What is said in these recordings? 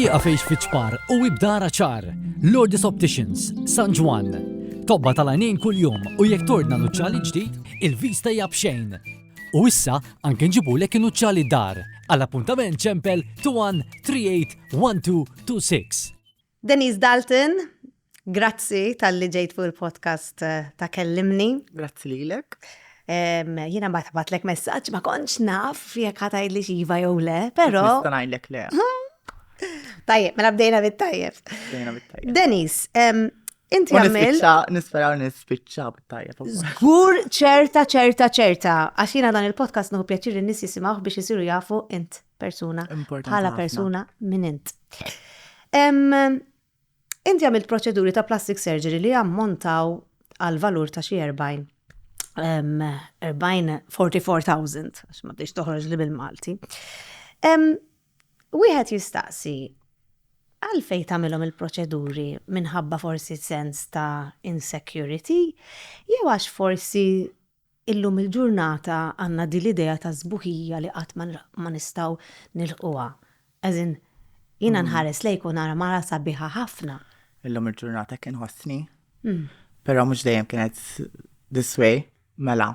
Iqa fejx fiċpar u ibdara ċar. Lourdes Opticians, San Ġwan. Tobba tal-għanin kull-jum u jek tordna nuċċali ġdid, il-vista jabxejn. U issa anke nġibu lek nuċċali dar. Għal-appuntament ċempel 21 38 26. Denise Dalton, grazzi tal-li ġejt fuq il-podcast eh, ta' kellimni. Grazzi lilek. Jina ma tabatlek messaġġ ma kontx naf jekk ħatajt li xiva jew le, però. Nista' ngħidlek le. Tajjeb, mela bdejna bit-tajjeb. Bdejna bit-tajjeb. Denis, Inti għamil. Nisperaw nispiċċa b'tajja. Zgur ċerta ċerta ċerta. Għax jiena dan il-podcast nuhu pjaċir n nis jisimawh biex jisiru jafu int persuna. Bħala persuna minn int. Inti għamilt proċeduri ta' plastic surgery li ammontaw għal valur ta' xi 40. 44,000, għax ma bdiex toħroġ li bil-Malti. Wieħed jistaqsi, għalfejn tagħmilhom il-proċeduri, minħabba forsi sens ta' insecurity, jew għax forsi illum il-ġurnata għandna din l-idea ta' sbuħija li qatt ma nistgħu nilħquha? As in, jiena nħares lejk u nara mara sabiħa ħafna. Illum il-ġurnata hekk inħossni, però mhux dejjem kienet this way, mela.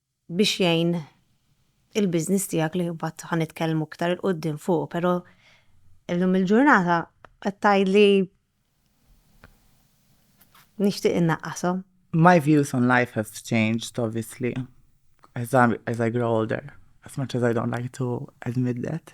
biex jgħin il-business tiegħek li mbagħad ħa nitkellmu iktar 'il quddiem fuqu, però llum il-ġurnata qed tgħidli nixtieq innaqqashom. My views on life have changed obviously as I grow older, as much as I don't like to admit that.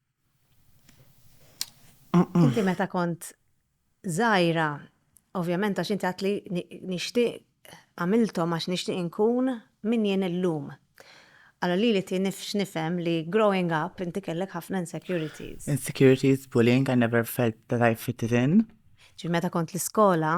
Inti meta kont żgħira, ovvjament għax inti għatli nixtieq għamilthom għax nixtieq inkun min jien illum. Allora li li tinifx nifhem li growing up inti kellek ħafna insecurities. Insecurities, bullying, I never felt that I fit it in. Ġi meta kont l-iskola,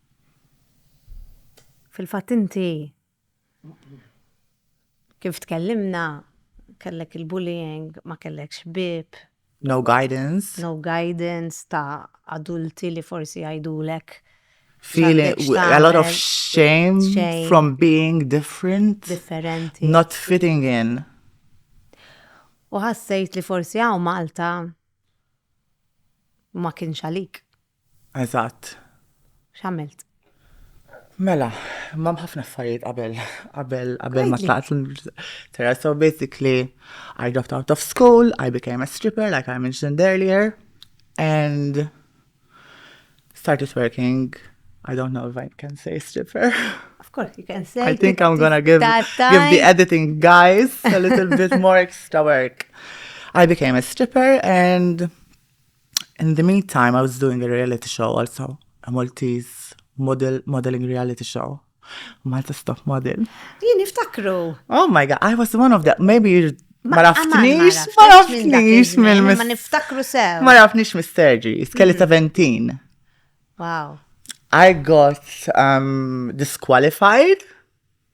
Fil-fatt inti kif tkellimna kellek il-bullying, ma kellekx bib. No guidance. No guidance ta' adulti li forsi jgħidulek. Feeling a lot of shame, shame from being different. Differenti. Not fitting in. U ħassejt li forsi hawn Malta ma kienx għalik. Eżatt. X'għamilt? Mela, ma ħafna affarijiet qabel, qabel, qabel ma tlaqt l-terra. So basically, I dropped out of school, I became a stripper, like I mentioned earlier, and started working. I don't know if I can say stripper. Of course, you can say. I think I'm gonna give, give the editing guys a little bit more extra work. I became a stripper and In the meantime, I was doing a reality show also, a Maltese model, modeling reality show. Malta Stop Model. Jien niftakru. Oh my god, I was one of the, maybe ma raftnix, ma raftnix minn. Ma niftakru sew. Ma raftnix minn Sergi, skelli 17. Mm. Wow. I got um, disqualified.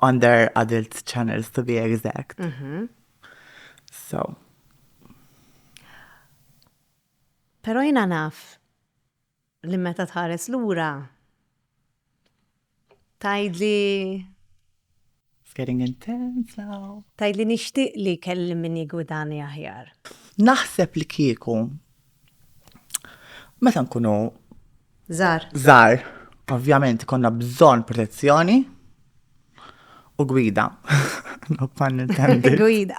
under adult channels to be exact. Mm -hmm. So. Pero jina naf li meta tħares lura tajdli It's getting intense now. Tajdli nixtieq li kelli min jigwidani aħjar. Naħseb li kieku Meta nkunu Zar. Zar, ovvjament konna bżon protezzjoni u gwida. No pun intended. Gwida.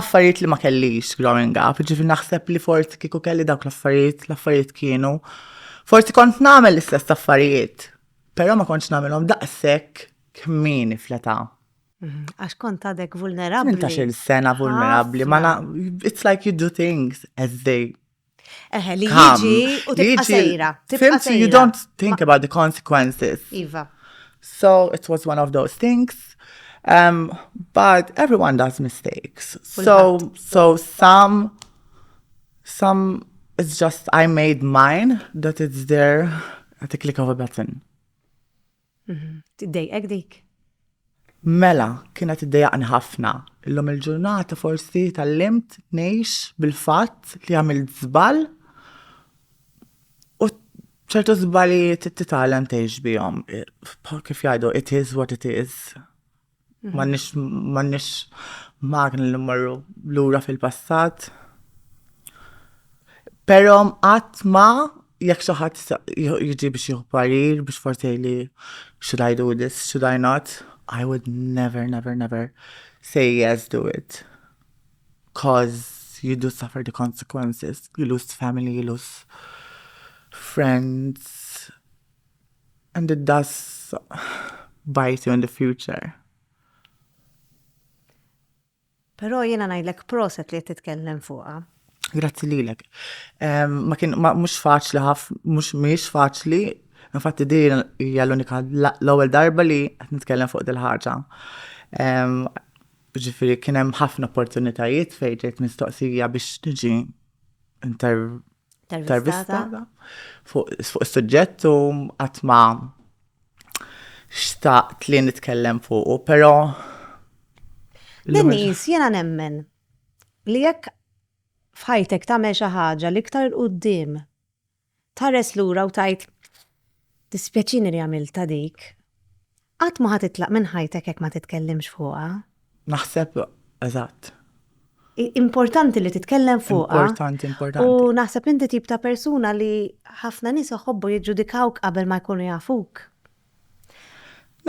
affarijiet li ma kellix growing up, ġifir naħseb li forsi kiku kelli dawk l-affarijiet, l-affarijiet kienu. Forsi kont namel l-istess affarijiet, pero ma kontx namelhom daqshekk kmini fleta. Mhm, għax kont għadek vulnerabli. Inta xil sena vulnerabli, ma na, it's like you do things as they Eħe, li jiġi u tibqa sejra. Fimti, you don't think about the consequences. Iva. So it was one of those things. Um, but everyone does mistakes. So, so some, some, it's just I made mine that it's there at the click of a button. Tiddejqek dik? Mela, kienet iddejaqni ħafna. Illum il-ġurnata forsi tallimt ngħix bil-fatt li għamilt żball u ċertu żbalijiet titgħallem tgħix bihom. Kif jgħidu, it is what it is. M'għandniex magni li mmorru lura fil-passat. Però qatt ma jekk xi ħadd jiġi biex jieħu parir biex forsi jgħidli should I do this, should I not, I would never, never, never say yes do it. Coz you do suffer the consequences, you lose family, you lose friends. And it does bite you in the future. Però jiena ngħidlek proset li qed titkellem fuqha. Grazzi lilek. Ehm, ma kien mhux faċli ħaf, mhux mhix faċli. Infatti din hija l-unika l-ewwel darba li qed nitkellem fuq dil-ħaġa. Ehm, ġifieri kien hemm ħafna opportunitajiet fejn ġejt mistoqsija biex niġi tarvistata fuq is-suġġett u qatt ma xtaqt li nitkellem fuqu, però Dennis, jiena nemmen li jekk f'ħajtek tagħmel xi ħaġa li iktar il qudiem tħares lura u tgħid dispjaċini li għamilta dik. Qatt ma ħa titlaq minn ħajtek jekk ma titkellimx fuqha. Naħseb, eżatt. Importanti li titkellem fuqha. Importanti, importanti. U naħseb li inti tip ta' persuna li ħafna nies iħobbu jiġġudikawk qabel ma jkunu jafuk.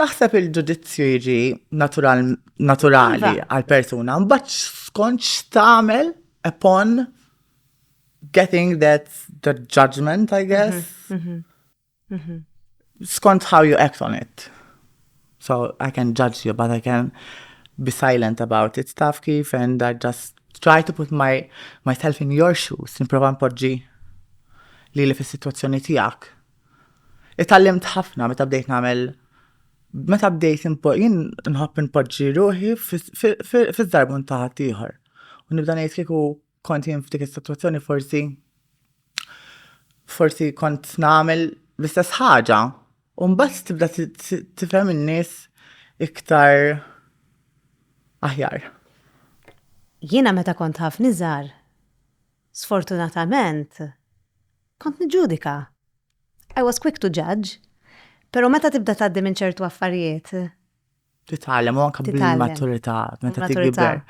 Naħseb il-ġudizzju jiġi naturali għal-persuna, mbagħad skont x'tagħmel upon getting that the judgment, I guess. Mhm, mhm. Mhm. Skont how you act on it. So I can judge you, but I can be silent about it, taf kif, and I just try to put my myself in your shoes, niprofa npoġġi li li fis-sitwazzjoni tiegħek. Itallimt ħafna meta bdejt nagħmel meta bdejt jien nħobb npoġġi ruħi fiż-żarbun ta' ħaddieħor. U nibda ngħid kieku kont jien f'dik is-sitwazzjoni forsi forsi kont nagħmel l-istess ħaġa. U mbagħad tibda tifhem in-nies iktar aħjar. Jiena meta kont ħaf niżar, sfortunatament kont niġġudika. I was quick to judge. Pero meta tibda tgħaddi minn ċertu affarijiet, titgħallem u anke bil-maturità meta tikber.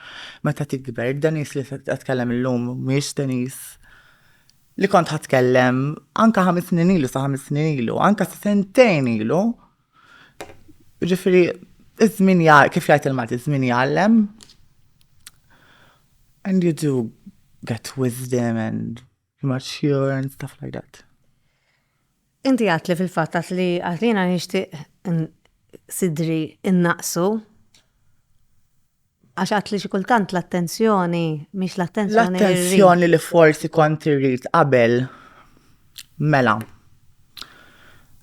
Meta tikber, id-Denis li tkellem illum mhijiex Denis li kont ħatkellem anke ħames snin ilu sa ħames snin ilu, anke sentejn ilu. Ġifieri, iż-żmien kif jgħid il-Malti, iż-żmien jgħallem. And you do get wisdom and Mature and stuff like that. Inti għat li fil-fatt għat li għat li jena nishtiq sidri innaqsu għax għat li xikultant l-attenzjoni, miex l-attenzjoni. L-attenzjoni li forsi kont irrit qabel mela.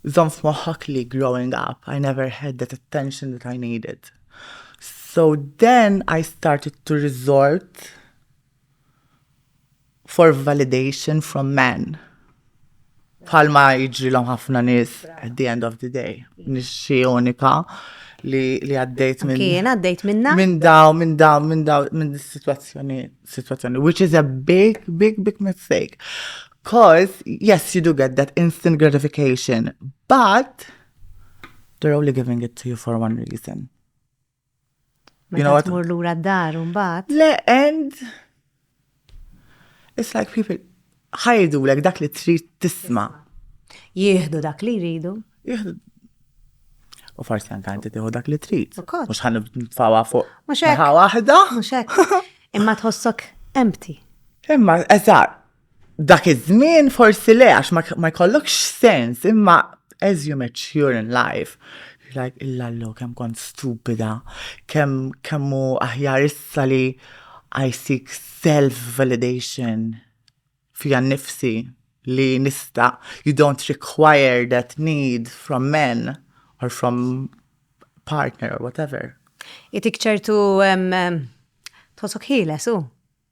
Zon f'moħħok li growing up, I never had that attention that I needed. So then I started to resort for validation from men. Bħalma jiġrilhom ħafna nies at the end of the day. Nixxi unika li li għaddejt minn. Kien għaddejt minna? Minn daw, minn daw, minn daw, minn situazzjoni, situazzjoni, which is a big, big, big mistake. Cause, yes, you do get that instant gratification, but they're only giving it to you for one reason. You know what? Mur lura d-dar un bat. Le, and it's like people ħajdu lek dak li trid tisma. Jieħdu dak li jridu. Jieħdu. U forsi anka inti tieħu dak li trid. Mhux ħan nfawa fuq. Mhux hekk. waħda. Mhux hekk. Imma tħossok empty. Imma eżatt. Dak iż-żmien forsi le għax ma jkollokx sens, imma as you mature in life, you're like illallo kemm kont stupida, kemm kemm hu aħjar issa li I seek self validation fija nnifsi li nista' you don't require that need from men or from partner or whatever. Itik ċertu tħossok ħieles hu.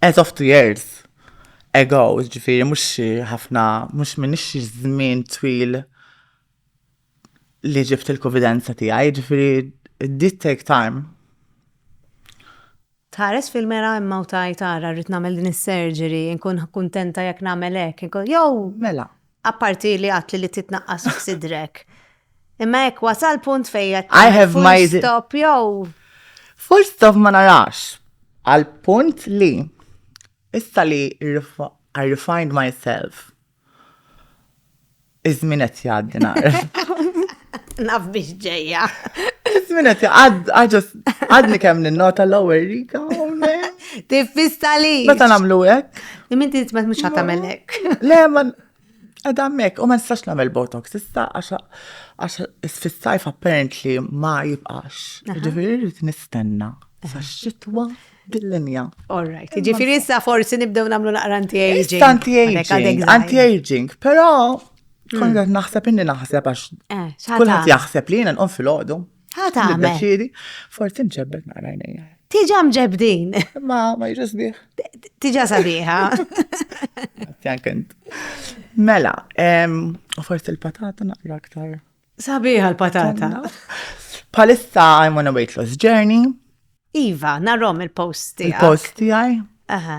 as of two years ago, ġifiri, mux ħafna, mux minix żmien twil li ġibt il-konfidenza tiegħi, ġifiri, it did take time. Tħares fil-mera imma u tajt ara rrid nagħmel din is-surgery, nkun kuntenta jekk nagħmel hekk, jew. Mela. Apparti li għatli li titnaqqas f'sidrek. Imma hekk wasal punt fejja. I have my stop jew. Full stop ma narax. Għal punt li issa li I refined myself. Iżmin qed jgħaddi nagħrif. Naf biex ġejja. Zmina ti għad, għadġas, għadni kem n-nota l-lower rika, Tiffista li. Meta namlu għek? Min ti t-met mux għatamelek. Le, man, għadamek, u ma nistax namel botox, issa għax fis-sajf apparently ma jibqax. Ġifiri rrit nistenna. Sa xitwa dil-linja. All right. Ġifiri issa forsi nibdew namlu naqra anti-aging. Anti-aging, anti-aging, pero Kont qed naħseb inni naħseb għax Eh, x'ħata. kulħadd jaħseb li jiena nqum fil-għodu. Ħata għamel. Niddeċiedi, forsi nċebbet naqra għajnejja. Tiġa mġebdin. Ma ma jiġu sbieħ. Tiġa sabiħa. Jank int. Mela, em, u forsi l-patata naqra aktar. Sabiħa l-patata. Palissa I'm on a weight loss journey, Iva, narrom il-post tiegħek. il-post tiegħi. Aha.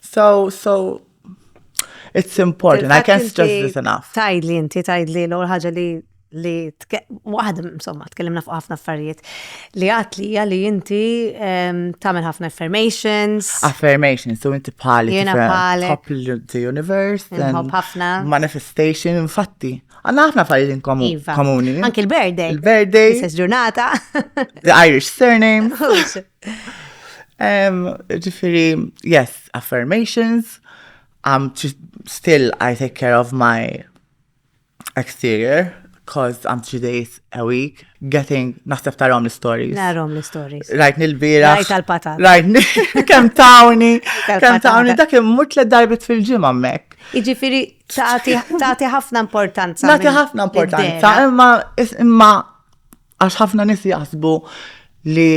So, so, it's important, I can't stress this enough. Tajd li inti, tajd li l-għol ħagġa li li waħda insomma tkellimna fuq ħafna affarijiet li għat li hija li inti ehm, tagħmel ħafna affirmations. Affirmations, so inti bħali jiena bħali the universe and ħafna manifestation infatti. Għanna ħafna affarijiet inkomu iva. komuni. Anki l-birthday. Il-birthday. Istess ġurnata. The Irish surname. Ġifiri, yes, affirmations, I'm still, I take care of my exterior, cause I'm three days a week getting, naħseb tarom l-stories. Narom l-stories. Rajt nil-bira. Rajt tal-patat. Rajt kem tawni, kem tawni, dak immut le darbit fil-ġimma mek. Iġifiri, taħti ħafna importanza. Taħti ħafna importanza, imma, imma, Għax ħafna nis jaħsbu li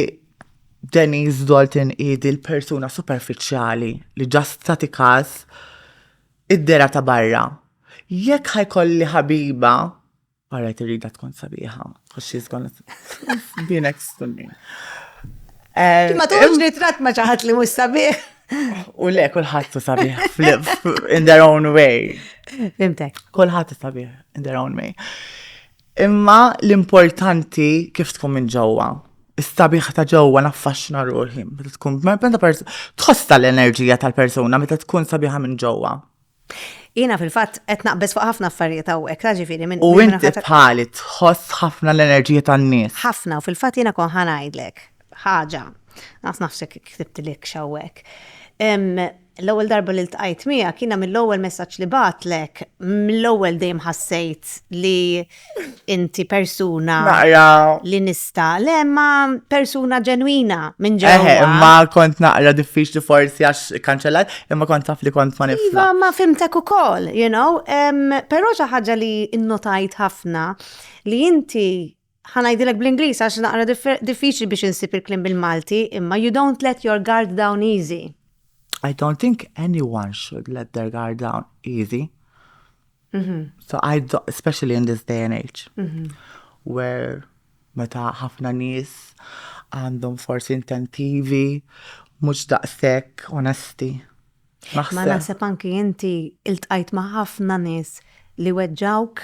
Denise Dalton idi l-persuna superfiċjali li ġast tati kas id-dera ta' barra. Jekk ħajkolli ħabiba, għarret irrida tkun sabiħa, because she's gonna be next to me. Eh, ma tuħġ li trat ma ċaħat li mus sabiħ. U le, kullħat sabiħ in their own way. Fimtek. Kullħat sabiħ in their own way. Imma l-importanti kif tkun minn ġewwa. Is-sabiħ ta' ġewwa naffaxxina ruħi meta tkun meta tħoss tal-enerġija tal-persuna meta tkun sabiħa minn ġewwa. Jiena fil-fatt qed naqbeż fuq ħafna affarijiet hawnhekk, ta' ġifieri minn. U inti bħali tħoss ħafna l-enerġija tan-nies. Ħafna, u fil-fatt jiena kon ħa ngħidlek ħaġa, naf nafsek ktibtilek x'hawnhekk. L-ewwel darba li ltqajt miegħek, jiena mill-ewwel messaġġ li bagħtlek, mill-ewwel dejjem ħassejt li inti persuna li nista, le ma persuna ġenwina minn ġewwa. Imma kont naqra diffiċli forsi għax kanċellat, imma kont taf li kont ma nifhem. Iva, ma fimtek ukoll, you know, però xi ħaġa li nnotajt ħafna li inti Ħa ngħidilek bl-Ingliż għax naqra diffiċli biex insib il-kliem bil-Malti, imma you don't let your guard down easy. I don't think anyone should let their guard down easy. Mm -hmm. So I do, especially in this day and age, mm -hmm. where meta ħafna nies għandhom forsi intentivi mhux daqshekk onesti. Ma naħseb anki inti iltqajt ma' ħafna nies li weġġawk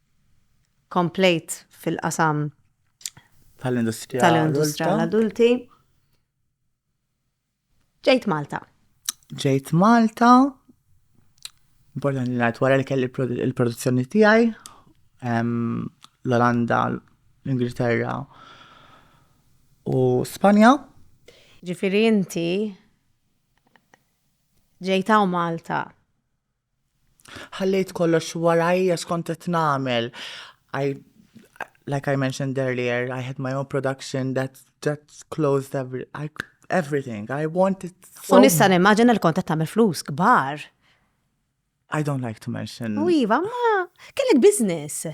komplejt fil-qasam tal-industrija tal-industrija tal-adulti. Ġejt Malta. Ġejt Malta. Importanti li wara li kelli il-produzzjoni tiegħi l-Olanda, l-Ingilterra u Spanja. Ġifieri inti ġejtaw Malta Ħallejt kollox warajja x'kont qed nagħmel. I like I mentioned earlier, I had my own production that that closed every, I, everything. I wanted so... U nista' nimmaġina li kont qed tagħmel flus kbar. I don't like to mention. U iva, ma kellek business.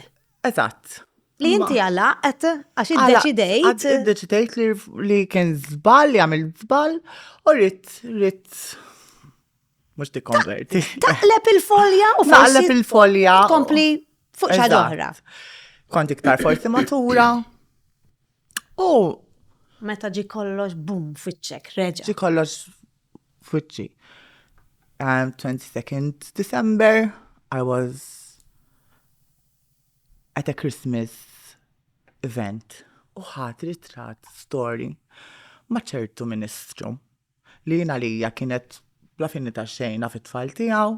Eżatt. Li inti għalaqt għax iddeċidejt. Iddeċidejt li kien żball li għamil żball u rrit rrit Mux tikkonverti. Taqleb il-folja u forsi. Taqleb il-folja. Kompli fuq xaġoħra. Kont iktar forsi matura. U. Meta ġi kollox bum fitċek, reġa. Ġi kollox fitċi. Um, 22nd December, I was at a Christmas event u ħat ritrat story ma ċertu ministru. li jien għalija kienet bla fini ta' xejn naf it-tfal tiegħu.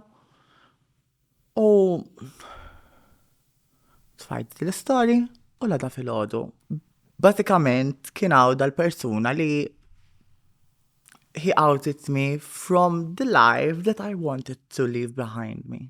U tfajt l-istorji u l-għada fil-ħodu. Basikament kien għaw dal-persuna li he outed me from the life that I wanted to leave behind me.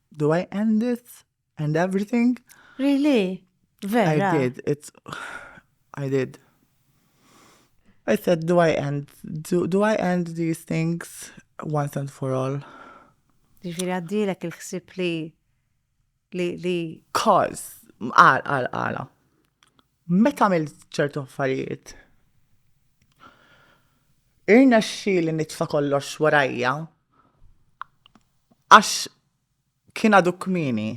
Do I end it? And everything? Really? Vera? I did. It's... I did. I said, do I end, do, do I end these things once and for all? Ġifiri għaddilek il-ħsib li li li. Cause, għal, għal, għala. Meta għamilt ċertu affarijiet, irnexxieli nitfa' kollox warajja għax kien għadu kmieni.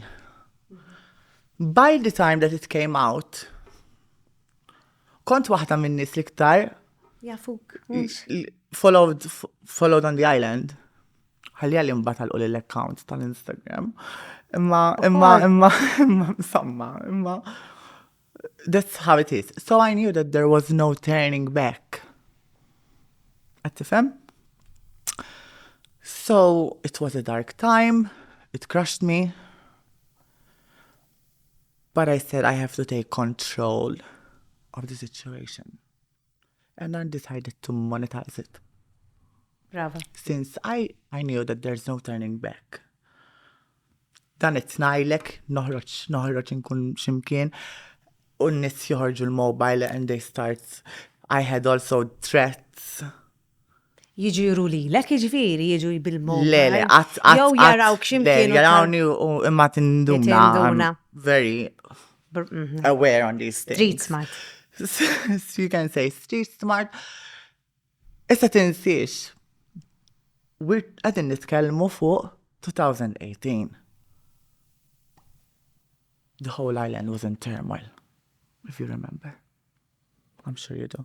By the time that it came out, kont waħda min-nies l-iktar. Jafuk. Followed, followed on the island. Ħalli għalli mbagħad għalqu l-account tal-Instagram. Imma, imma, imma, imma, insomma, imma. That's how it is. So I knew that there was no turning back. Għattifem? So it was a dark time, it crushed me. But I said I have to take control of the situation. And I decided to monetize it. Brava. Since I, I knew that there's no turning back. Dan it-tnajlek, noħroċ, noħroċ nkun ximkien, u n-nis joħorġu l-mobile and they start, I had also threats, jiġu juru lilek, jiġifieri jiġu jibilmu. Le, le, qatt qatt. Jew jarawk x'imkien. Jarawni u imma tinduna. Very mhm. aware on these things. Street smart. You can say street smart. Issa tinsiex. We're qegħdin nitkellmu fuq 2018. The whole island was in turmoil, if you remember. I'm sure you do.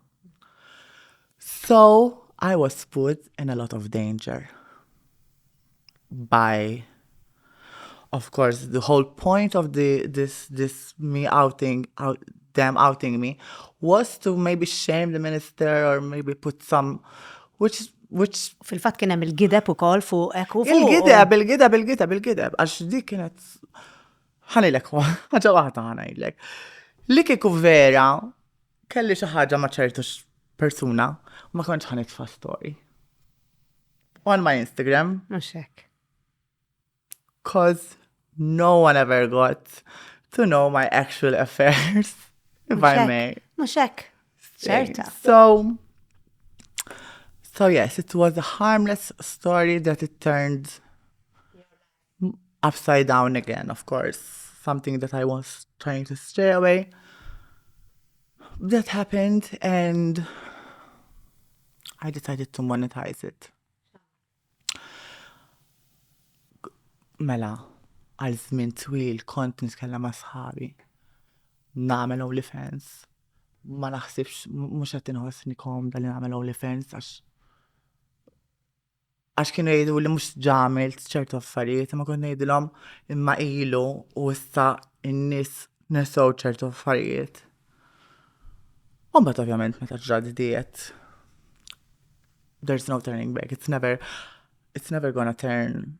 So, I was put in a lot of danger by of course the whole point of the this this me outing out them outing me was to maybe shame the minister or maybe put some which is which fil-fatt kien hemm il-gideb ukoll fuq hekk fuq. Il-gideb, il-gideb, il-gideb, il-gideb għax dik kienet Ħanilek ħaġa waħda ħanajlek. Li kieku vera kelli xi ħaġa ma' ċertu persuna ma kontx ħanitfa' story. On my Instagram. Mhux hekk. Cause no one ever got to know my actual affairs. If I may. Mhux hekk. Ċerta. So, so yes, it was a harmless story that it turned upside down again, of course, something that I was trying to stay away. That happened and I decided to monetize it. Mela, għal żmien twil kont nitkellem ma' sħabi. Nagħmel OnlyFans. Ma naħsibx mhux qed inħossni komda li nagħmel OnlyFans għax Għax kienu jgħidu li mhux ġamilt ċertu affarijiet, ma kont ngħidilhom imma ilu u issa n-nies nesew ċertu affarijiet. U mbagħad ovvjament meta ġrad diet there's no turning back, it's never it's never gonna turn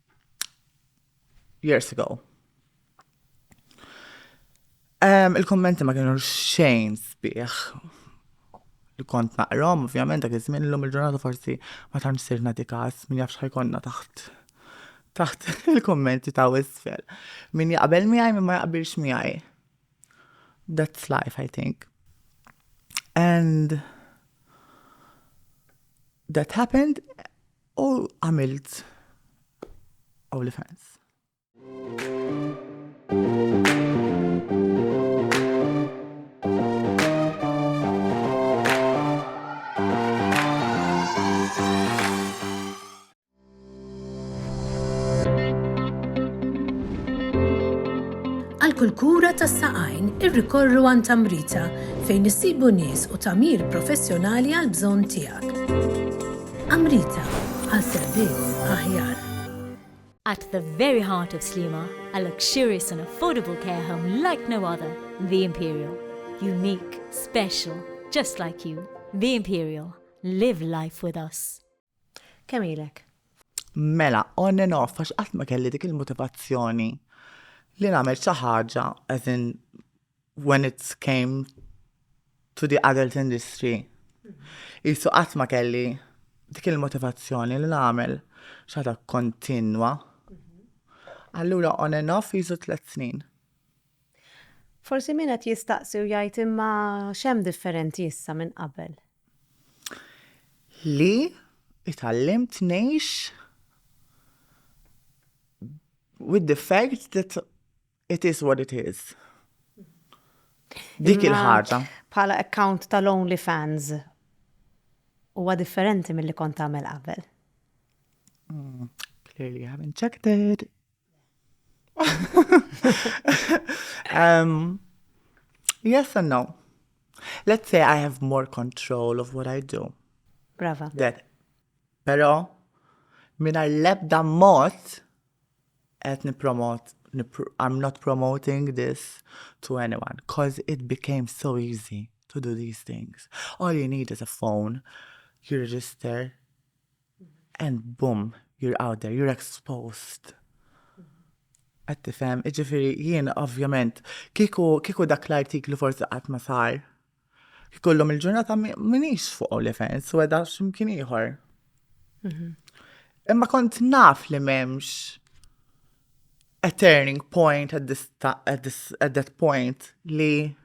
years ago. Um, Il-kommenti ma kienu xejn sbieħ li kont naqrom, ovvjament dak iż-żmien illum il-ġurnata forsi ma tantx sir nagħti każ min jafx ħajkonna taħt taħt il-kommenti ta' isfel. Min jaqbel miegħi min ma jaqbilx miegħi. That's life, I think. And that happened U għamilt OnlyFans. kull kura tas saqajn irrikorru għan tamrita fejn issibu nies u tamir professjonali għal bżonn tiegħek. Amrita, għal servizz aħjar. At the very heart of Sliema, a luxurious and affordable care home like no other, The Imperial. Unique, special, just like you. The Imperial. Live life with us. Kemm ilek? Mela, on and off, għax qatt ma kelli dik il-motivazzjoni li nagħmel xi ħaġa, as in when it came to the adult industry. Jisu qatt ma kelli dik il-motivazzjoni li nagħmel xaħda kontinwa. Allura on and off jisu tliet snin. Forsi min qed jistaqsi u jgħid imma x'hemm differenti issa minn qabel? Li itallimt ngħix with the fact that It is what it is. Dik il-ħaġa. Bħala account tal-OnlyFans huwa differenti mill-li kont tagħmel qabel. Mm, clearly I haven't checked it. um, yes and no. Let's say I have more control of what I do. Brava. That. Pero, minar lebda mot, qed nippromot I'm not promoting this to anyone cause it became so easy to do these things. All you need is a phone, you register and boom, you're out there, you're exposed. Għed tifem, iġifiri jien ovvjament, kiku, kiku dak l-artiklu forsi qatt ma sar, Jkollhom il-ġurnata minix fuq OnlyFans u għedha x'imkien ieħor. Mhm. Imma kont naf li m'hemmx a turning point at, this, at, this, at that point li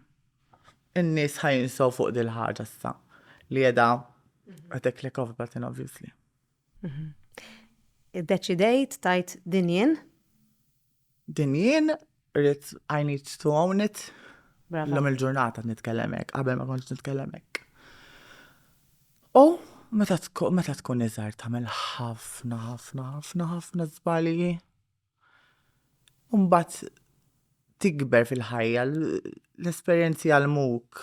n-nies ħajinsaw fuq dil-ħaġa sa li għedha għedha click off button obviously. Mhm. Id-deċidejt tajt dinjen Din jien rrit I need to own it. L-lum il-ġurnata nitkellem hekk, qabel ma kontx nitkellem hekk. U meta tkun iżgħar tagħmel ħafna ħafna ħafna ħafna żbalji. Mbagħad tikber fil-ħajja, l-esperjenzi jgħallmuk.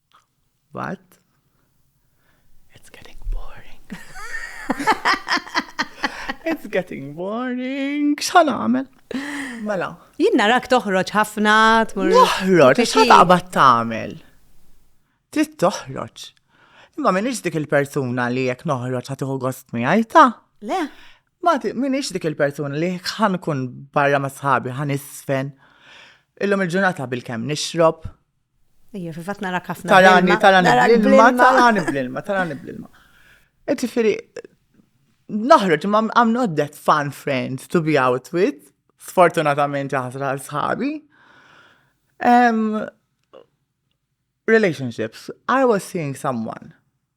What? It's getting boring. It's getting boring. X'ħan għamel? Mela. Jien narak toħroġ ħafna tmur. Toħroġ, x'ħan taqbad tagħmel? Trid toħroġ. Imma minix dik il-persuna li jekk noħroġ ħatiħu gost miegħi ta'. Le. Ma minix dik il-persuna li ħan kun barra ma' sħabi, ħan isfen. Illum il-ġurnata bil-kem nixrob, Ija, fil-fat nara kafna. Tarani, tarani bl-ilma, tarani bl-ilma, tarani bl-ilma. Et ġifiri, naħroġ, ma I'm not that fun friend to be out with, sfortunatament ħasra sħabi. Um, relationships, I was seeing someone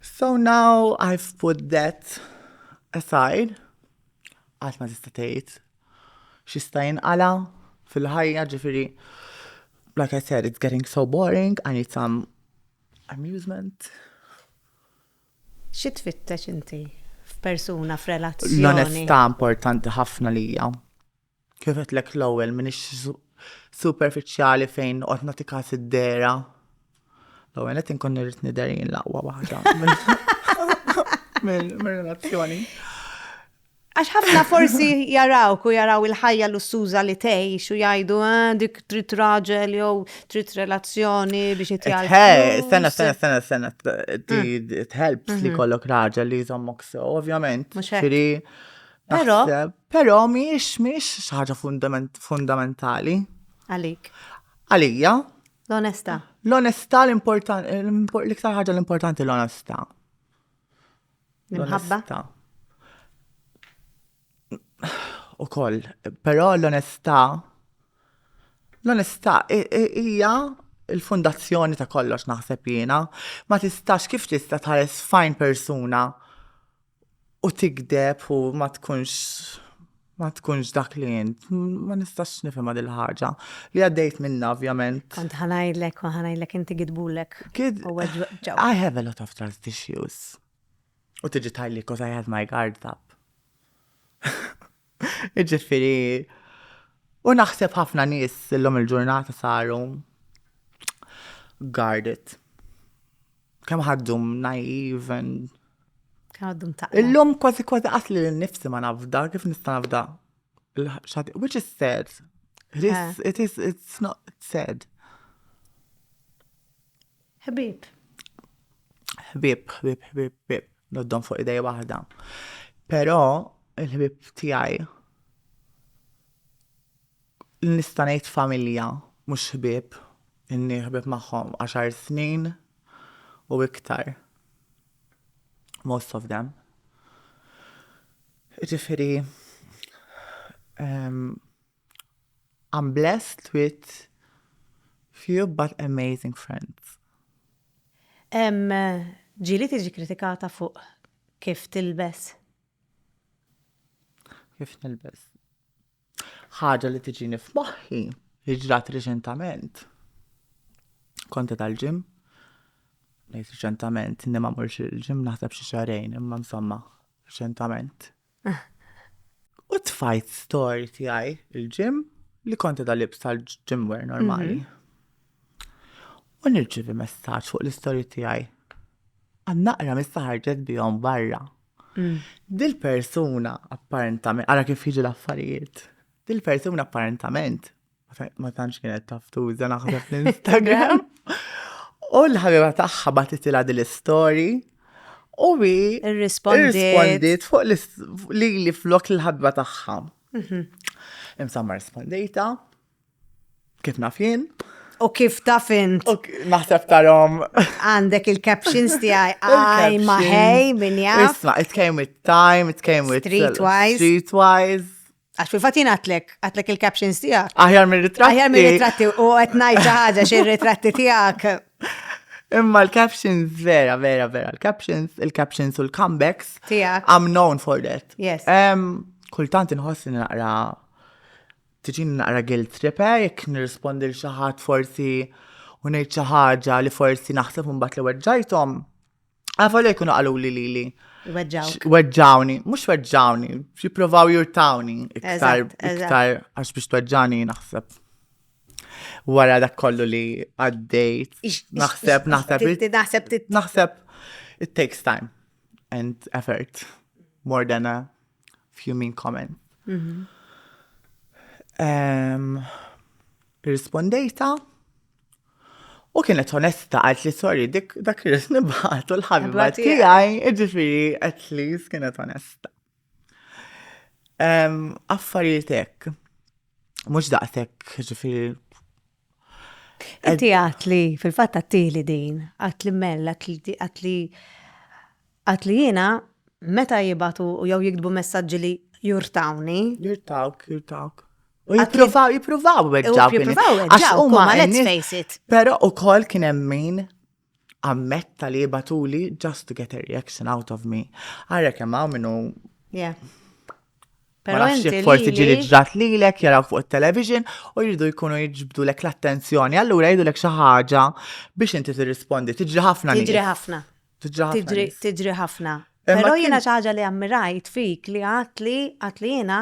So now I've put that aside, għat ma tista' tgħid xista' jinqala fil-ħajja ġifieri like I said, it's getting so boring, I need some amusement. Xi tfittex inti f'persuna f'relazzjoni? L-onestà importanti ħafna lija. Kif għedtlek l-ewwel m'iniex superfiċjali fejn noqgħod nagħti każ id-dera. L-ewwel qed inkun irrid nidher jien l-aqwa waħda. Minn relazzjoni. Għax ħafna forsi jaraw ku jaraw il-ħajja lussuża li tgħix u jgħidu ah, dik trid raġel jew trid relazzjoni biex itjal. Eh, sena, sena, sena, sena, it-helps li mm-hmm. kollok raġel li jżommok so, ovvjament. Xiri, Però. Però miex miex xi ħaġa fundamentali. Għalik. Għalija. L-onesta. L-onesta l-importanti, l-iktar ħaġa l-importanti l-onesta. L-imħabba. U koll, però l-onesta l-onesta hija il-fundazzjoni ta' kollox naħseb jiena, ma tistax kif tista' tħares fajn persuna u tigdeb u ma tkunx ma tkunx dak li jint. Ma nistax nifhimha dil ħaġa li għaddejt minna ovvjament. Kont ħanajlek u ħanajlek inti gidbulek. Kid I have a lot of trust issues. U tiġi tajli cause I have my guards up. Ġifiri, u naħseb ħafna nies illum il-ġurnata saru guarded. Kemm ħaddum naiv and Għaddum ta' Illum kważi kważi qasli li nifsi ma nafda, kif nista' nafda? Il-ħadd- Which is sad. It is, it is, it's not sad. Ħbieb. Ħbieb, ħbieb, ħbieb, ħbieb. Noddhom fuq idej waħda. Però il-ħbieb tiegħi nista' ngħid familja, mhux ħbieb, inni ħbieb magħhom għaxar snin u iktar. Most of them. Ġifieri, ehm, I'm blessed with few but amazing friends. Ġieli tiġi kritikata fuq kif tilbes? Kif nilbes? Ħaġa li tiġini f'moħħi li ġrat riċentament. Konti tal-ġim, nejt riċentament, inni ma morx il-ġim naħseb xi xarejn, imma insomma, riċentament. U tfajt story tiegħi il-ġim li konti da libs tal-ġimwer normali. U nirċivi messaġġ fuq l-istory tiegħi. Għannaqra missa ħarġet bihom barra. Mm. Dil-persuna apparentament, ara kif jiġi l-affarijiet. Dil-persuna apparentament Ma tantx kienet taftuża naħseb l-Instagram. U l-ħabiba tagħha batitilha din l-istorji. U bi irrispondiet fuq li li flok l-ħabba tagħha. Mhm. Imsa ma rispondejta. Kif naf jien. U kif taf int? Naħseb tarom. Għandek il-captions tiegħi għaj maħej min jaf. Isma, it came with time, it came with streetwise. Streetwise. Għax fil-fatt jien għatlek, għatlek il-captions tiegħek. Aħjar mir-ritratti. Aħjar mir-ritratti u qed ngħid xi ħaġa xi ritratti tiegħek. Imma l-captions, vera, vera, vera, l-captions, il-captions u l-comebacks. Tiegħek. I'm known for that. Yes. Kultant inħoss li naqra tiġin naqra guilt trip eh, jekk nirrispondi l xi ħadd forsi u ngħid xi ħaġa li forsi naħseb imbagħad li weġġajthom. Għavolja jkunu għalu li li li. Weġġawk. Weġġawni, mux weġġawni, jiprovaw jurtawni iktar, iktar, għax biex tweġġani naħseb. Wara dak kollu li għaddejt, naħseb, naħseb, naħseb, naħseb, it takes time and effort more than a Few mean comments. Mhm. Rispondejta. U kienet onesta għalt li sorry dik dak li nibħat u l-ħabba tiegħi, iġifieri at least kienet onesta. Affarijiet hekk. Mhux daqshekk ġifieri Inti għat li fil-fatt għattili din, għat li mella, għat li għat li jiena meta jibatu u jew jiktbu messaġġi li jurtawni. Jurtawk, jurtawk. U jippruvaw, jippruvaw weġġaw. Jippruvaw weġġaw, ma let's face it. Pero u kol kien emmin ammetta li jibatuli just to get a reaction out of me. Għarra kemm hawn minnu. Yeah. Pero inti forsi ġili ġrat li lek jaraw fuq il-television u jridu jkunu jġbdu lek l-attenzjoni. Allura jridu lek xaħġa biex inti tirrispondi. Tiġri ħafna. Tiġri ħafna. Tiġri ħafna. Pero jena xaħġa li għammirajt fik li għat li għat li jena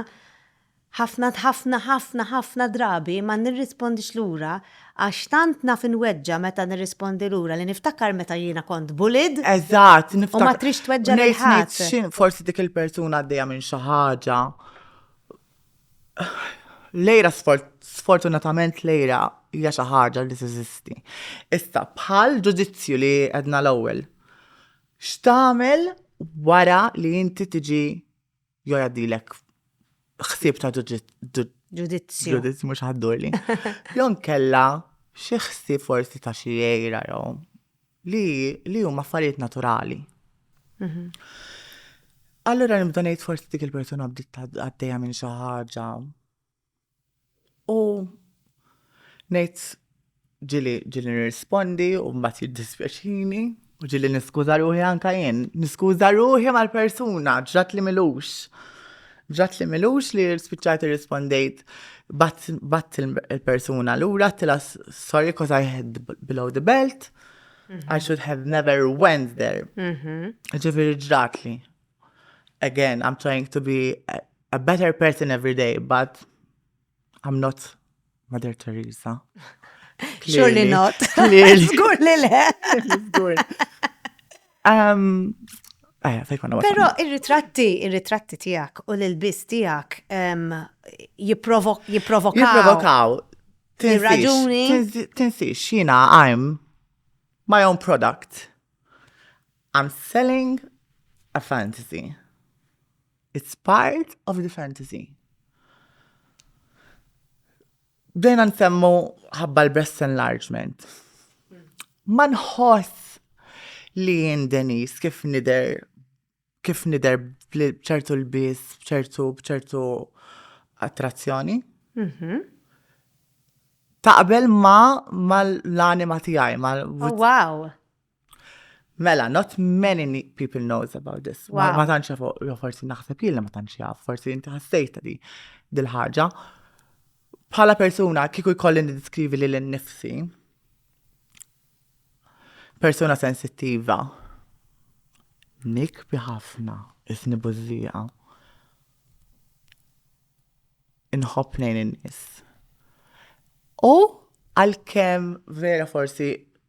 Ħafna, ħafna, ħafna, ħafna drabi ma nirrispondix lura għax tant naf inweġġa' meta nirrispondi lura li niftakar meta jiena kont bullied. Eżatt, niftakar. U ma tridx tweġġa' lil ħadd. U ngħid, ngħid x'inhu, forsi dik il-persuna għaddejja minn xi ħaġa. Lejra sfortunatament lejra hija xi ħaġa li teżisti. Issa bħal ġudizzju li għedna l-ewwel. X'tagħmel wara li inti tiġi Jo jgħaddilek ħsieb ta' ġudizzju. Ġudizzju mhux ħaddurli. Jon kella xi ħsieb forsi ta' xi jgħira jew li li huma affarijiet naturali. Mhm. Allura nibda ngħid forsi dik il-persuna bdiet għaddejja minn xi ħaġa U ngħid ġili ġili nirrispondi u mbagħad jiddispjaċini u ġili niskuża ruħi anka jien. Niskuża ruħi mal-persuna ġrat li milux. Ġrat li milux li spiċċajt irrispondejt bat il-persuna lura tila sorry cause I had below the belt. Mhm. I should have never went there. Mhm. Ġifieri ġrat li. Again, I'm trying to be a better person every day, but I'm not Mother Teresa. Surely not. Zgur li le. Zgur. Um, eh, Pero il-ritratti, il-ritratti tijak u l-bis tijak um, jiprovokaw. Jiprovokaw. Il-raġuni. Tinsix, xina, I'm my own product. I'm selling a fantasy. It's part of the fantasy. Bdejna nsemmu ħabba l-breast enlargement. Ma nħoss li jien Denis kif nider kif nider bċertu l-bis, bċertu bċertu attrazzjoni. Mhm. Taqbel ma mal-anima tijaj, mal Oh, wow. Mela, not many people knows about this. Wow. Ma tantx jafu, forsi naħseb jien ma tantx jaf, forsi inti ħassejt li dil-ħaġa. Bħala persuna kieku jkolli niddeskrivi li l-nifsi, persuna sensittiva, nik biħafna, isni buzzija. Inħobb nejn in-nis. U għal-kem vera forsi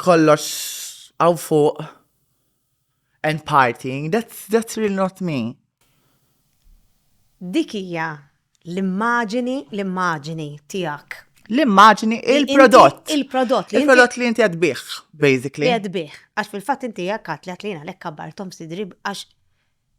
kollox għaw fuq and partying, that's, that's really not me. Dik hija l-immaġini, l-immaġini tiegħek. L-immaġini, il-prodott. Il-prodott. Il-prodott li inti għadbiħ, basically. Li għadbiħ. Għax fil-fat inti għakkat li għatlina l-ekkabar Tom Sidrib għax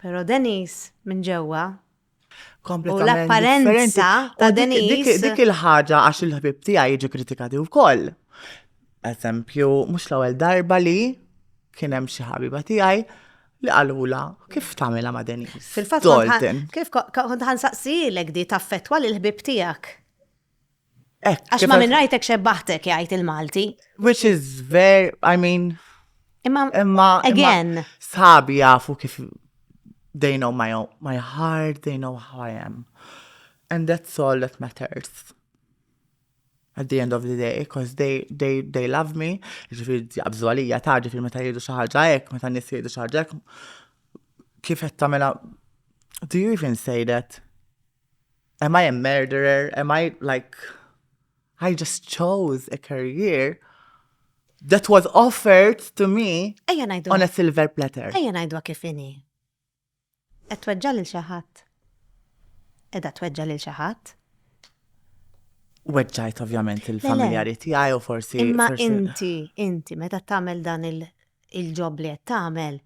Pero Denise minn ġewwa. Kompletament. U l-apparenza ta' Denise. Dik il-ħaġa għax il-ħbib tiegħi jiġi kritikati wkoll. Eżempju, mhux l-ewwel darba li kien hemm xi ħabiba tiegħi li għalula kif tamela ma' Denis. Fil-fatt kif kont ħansaqsilek di taffetwa l-ħbib tijak. Eh, Għax ma minn rajtek xebbaħtek jgħid il-Malti. Which is very, I mean. Imma, imma again. Sabi jafu kif they know my, own, my heart, they know how I am. And that's all that matters. At the end of the day, because they, they, they love me, ġifir jabżu għalija ta' ġifir meta jridu xaħġa ek, meta nis jridu xaħġa ek, kif jattamela, do you even say that? am I a murderer? Am I like, I just chose a career that was offered to me on a silver platter. Ejja najdu kifini. Et tweġġa lil xaħat. Edha tweġġa lil xaħat. Weġġajt ovvjament il-familjari tiegħi u forsi. Imma inti, inti, meta tagħmel dan il- il-ġob li qed tagħmel,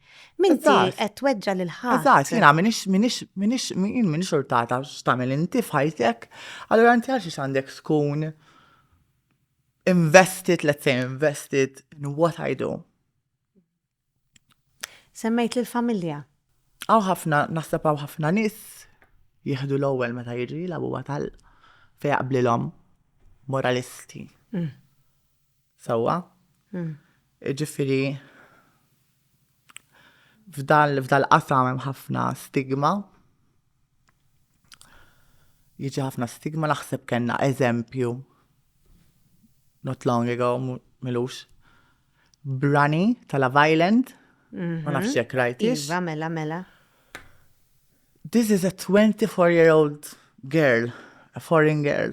minti qed tweġġa' lil ħadd. Eżatt, jiena minix minix minix jien minix urtata x'tagħmel inti f'ħajtek, allura inti għaliex għandek tkun invested, let's say invested in what I do. Semmejt lil familja. Aw ħafna naħseb hawn ħafna nies jieħdu l-ewwel meta jiġri l-abuwa tal fejaqblilhom moralisti. Mm. Sewwa. Jiġifieri f'dal-qasam hemm ħafna stigma. Jiġi ħafna stigma naħseb kellna eżempju not long ago milux Brani tal Island. Mhm. Ma nafx jekk rajt. Iva, mela, mela. This is a 24 year old girl, a foreign girl.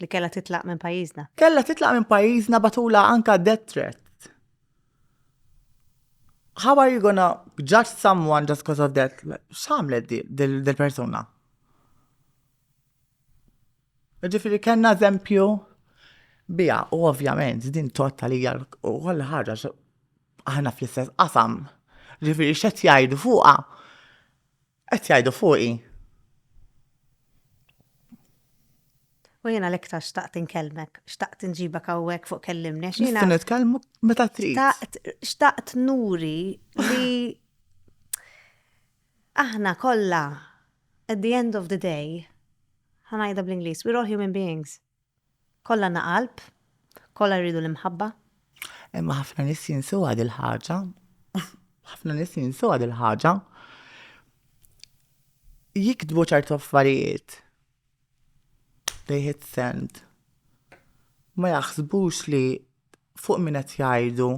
Li kellha titlaq minn pajjiżna. Kellha titlaq minn pajjiżna batula anka death threat. How are you gonna judge someone just because of that? X'għamlet dil-persuna? Ġifiri kellna eżempju bija, u ovvjament din tottalija u kollha ħaġa aħna fl-istess qasam. Ġifiri x'qed jgħidu fuqha Qed jgħidu fuqi. U jiena l-iktar xtaqt inkellmek, xtaqt inġibek hawnhekk fuq kellimni. Xtaqt nitkellmu meta trid. Xtaqt nuri li aħna kollha at the end of the day ħanajda bl-Ingliż, we're all human beings. Kollha għandna qalb, kollha rridu l-imħabba. Imma ħafna nies jinsuha dil-ħaġa. Ħafna nies jinsuha dil-ħaġa. Jiktbu ċertu affarijiet. They hit send. Ma jaħsbux li fuq min qed jgħidu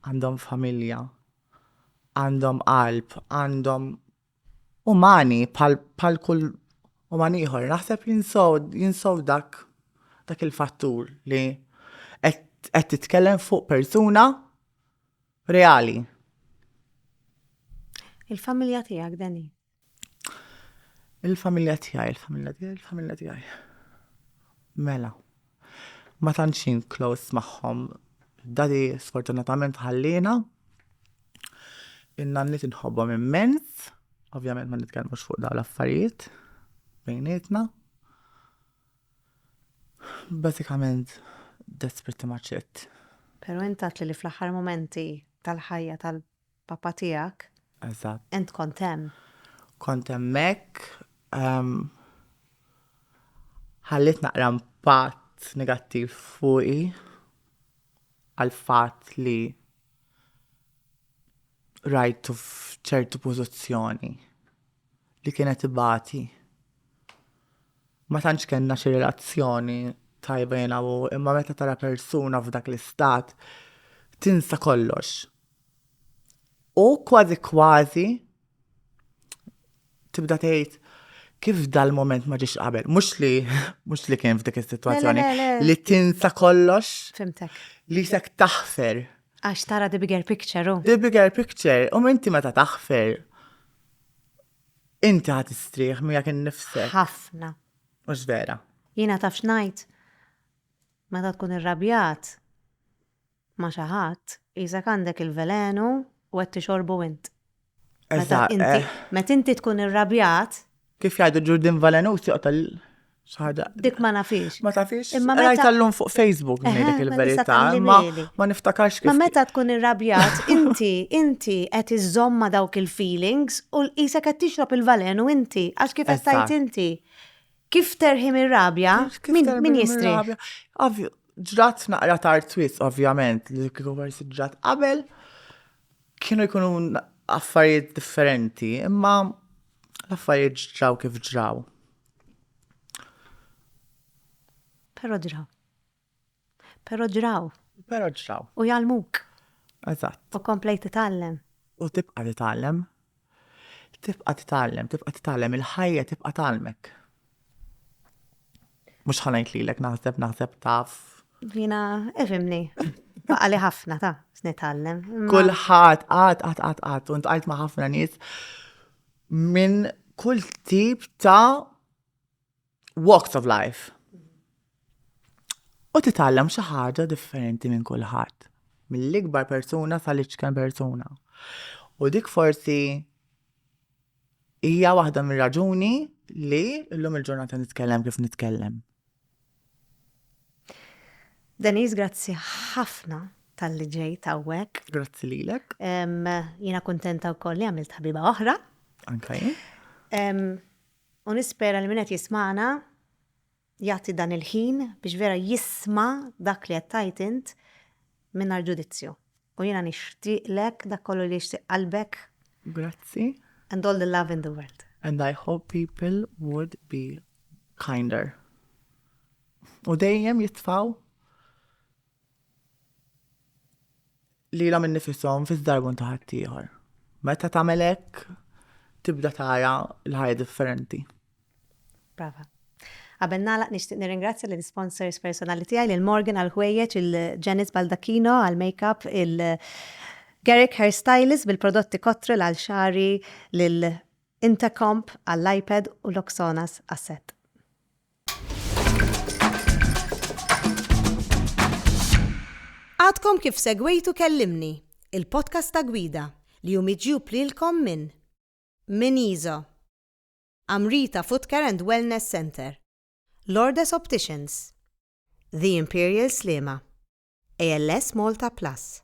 għandhom familja, għandhom qalb, għandhom umani bħal kull uman ieħor naħseb jinsow dak dak il-fattur li qed titkellem fuq persuna reali. Il-familja tiegħek Dani? Il-familja tiegħi, il-familja tiegħi, il-familja tiegħi. Mela. Ma tantx jien close magħhom. Daddy sfortunatament ħalliena. In-nanniet inħobbhom immens. Ovvjament ma nitkellmux fuq dawn l-affarijiet bejnietna. Bażikament that's pretty much it. Pero int għedtli li fl-aħħar mumenti tal-ħajja Papa tiegħek. Eżatt. Int kont hemm. Kont hemmhekk. Ħalliet naqra impatt negattiv fuqi għall-fatt li rajtu f'ċertu pożizzjoni li kienet ibati. Ma tantx kellna xi relazzjoni tajba jiena u imma meta tara persuna f'dak l-istat tinsa kollox. U kważi kważi tibda tgħid kif dal-moment ma ġiex qabel, mhux li mhux li kien f'dik is-sitwazzjoni li tinsa kollox. Fimtek. Li sek taħfer. Għax tara the bigger picture. Oh. The bigger picture, u um, inti meta taħfer. Inti ħat istrieħ miegħek innifsek. Ħafna. Mhux vera. Jiena taf xnajt. Meta tkun irrabjat, ma' xi ħadd, qisek għandek il-velenu u qed tixorbu int. Meta inti, meta inti tkun irrabjat. Kif jgħidu ġurdin velenus joqtol Dik ma nafix. Ma tafix. Imma meta jtallum fuq Facebook ngħidlek il-verità, ma ma niftakarx kif. Ma meta tkun irrabjat, inti inti qed iżomma dawk il-feelings u l-qisek qed tixrob il-valen u inti għax kif qed tgħid inti. Kif terħi mir-rabja? Min jistri? Ovvju, ġrat naqra tar twist, ovvjament, li kieku versi ġrat qabel, kienu jkunu affarijiet differenti, imma l-affarijiet ġraw kif ġraw. Pero ġraw. Però ġraw. Però ġraw. U jgħallmuk. Eżatt. U komplejt titgħallem. U tibqa' titgħallem. Tibqa' titgħallem, tibqa' titgħallem, il-ħajja tibqa' tgħallmek. Mhux ħa ngħid lilek naħseb, naħseb taf. Jiena ifhimni. Baqa' li ħafna ta' nitgħallem. Kulħadd qatt qatt qatt qatt u ntqajt ma' ħafna nies minn kull tip ta' walks of life. U titgħallem xi ħaġa differenti minn kulħadd, mill-ikbar persuna sal-iċken persuna. U dik forsi hija waħda mir-raġuni li llum il-ġurnata nitkellem kif nitkellem. Deniz, grazzi ħafna tal-li ġej tawwek. Grazzi lilek. Jina kontenta wkoll li għamilt ħabiba oħra. Anka jien. U nispera li min qed jismagħna jagħti dan il-ħin biex vera jisma' dak li qed tgħid int mingħajr ġudizzju. U jiena nixtieqlek dak kollu li jixtieq qalbek. Grazzi. And all the love in the world. And I hope people would be kinder. U dejjem jitfgħu lilhom innifishom fi żdarbun ta' ħaddieħor. Meta tagħmel hekk tibda tara l-ħajja differenti. Brava. Qabel nagħlaq nixtieq nirringrazzja lill sponsors personali tiegħi lil Morgan għal ħwejjeġ, il-Janice Baldacchino għal makeup, il Garrick Hairstylist bil-prodotti Cottrell għal xagħri, lil Intercomp għall-iPad u Loxonas għas-sett. Għadkom kif segwejtu Kellimni, il-podcast ta' gwida li hu miġjub lilkom minn minn Iso, Amrita Footcare and Wellness Centre, Lourdes Opticians, The Imperial Sliema, ALS Malta Plus.